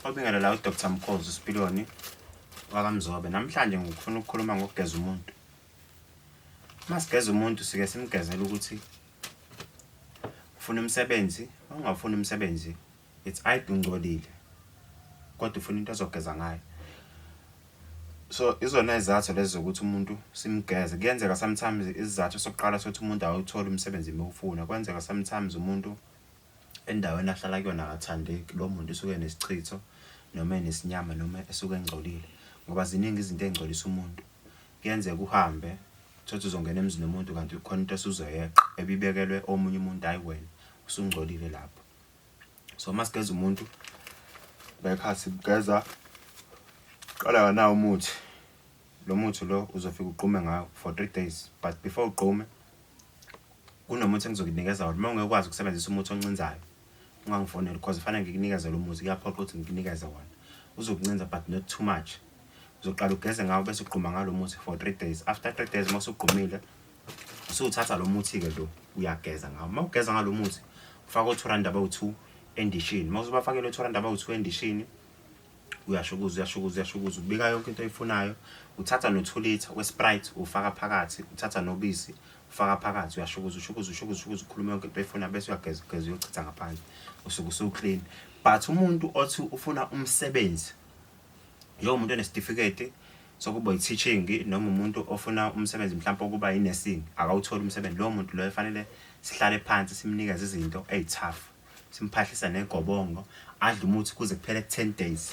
Obingelela uDr Mkhozi Sipiloni wakamzobe namhlanje ngifuna ukukhuluma ngokugeza umuntu uma sigeza umuntu sike simgezela ukuthi ufuna umsebenzi ongafuni umsebenzi it's aid ungcolile kodwa ufuna into ezogeza ngayo so izona izathu lezi zokuthi umuntu simgeze kuyenzeka sometimes isizathu sokuqala sokuthi umuntu awuthole umsebenzi mewufuna kwenzeka sometimes umuntu Endaweni ahlala kuyona akathandeki. Lo muntu usuke enesichitho noma enesinyama noma esuke engcolile ngoba ziningi izinto ey'ngcolisa umuntu. Kuyenzeka uhambe uthole ukuthi uzongena emzini womuntu kanti khona into osuzoyeqa ebibekelwe omunye umuntu hhayi wena, usungcolile lapho. So uma sigeza umuntu ngekhathi simgeza qala nganawo umuthi. Lo muthi lo uzofika ugqume ngawo for three days but before ugqume kunomuthi engizokunikeza wona uma ungekwazi ukusebenzisa umuthi oncinzayo ungangifoneli because kufanele ngikunikeze lo muthi kuyaphoqa ukuthi ngikunikeze wona uzokuncinza but not too much uzoqala ugeze ngawo bese ugquma ngalo muthi for three days after three days uma usugqumile usuthatha lo muthi-ke lo uyageza ngawo uma ugeza ngalo muthi ufaka othoranda abawu-two endishini uma usubafakele othoranda abawu-two endishini uyashukuza uyashukuza uyashukuza ubika yonke into oyifunayo uthatha no-two litre we-sprite ufaka phakathi uthatha nobisi ufaka phakathi uyashukuza ushukuza ushukuza ushukuza ukhuluma yonke into oyifunayo bese uyageza ugeza uyochitha ngaphandle usuke usuwuclean but umuntu othi ufuna umsebenzi njengomuntu onesitifiketi sokuba yi-teaching noma umuntu ofuna umsebenzi mhlawumpe okuba yi-nursing akawutholi umsebenzi lowo muntu loyo fanele sihlale phansi simnikeze izinto eyi-tough simphahlisa negobongo adle umuthi kuze kuphele 10 days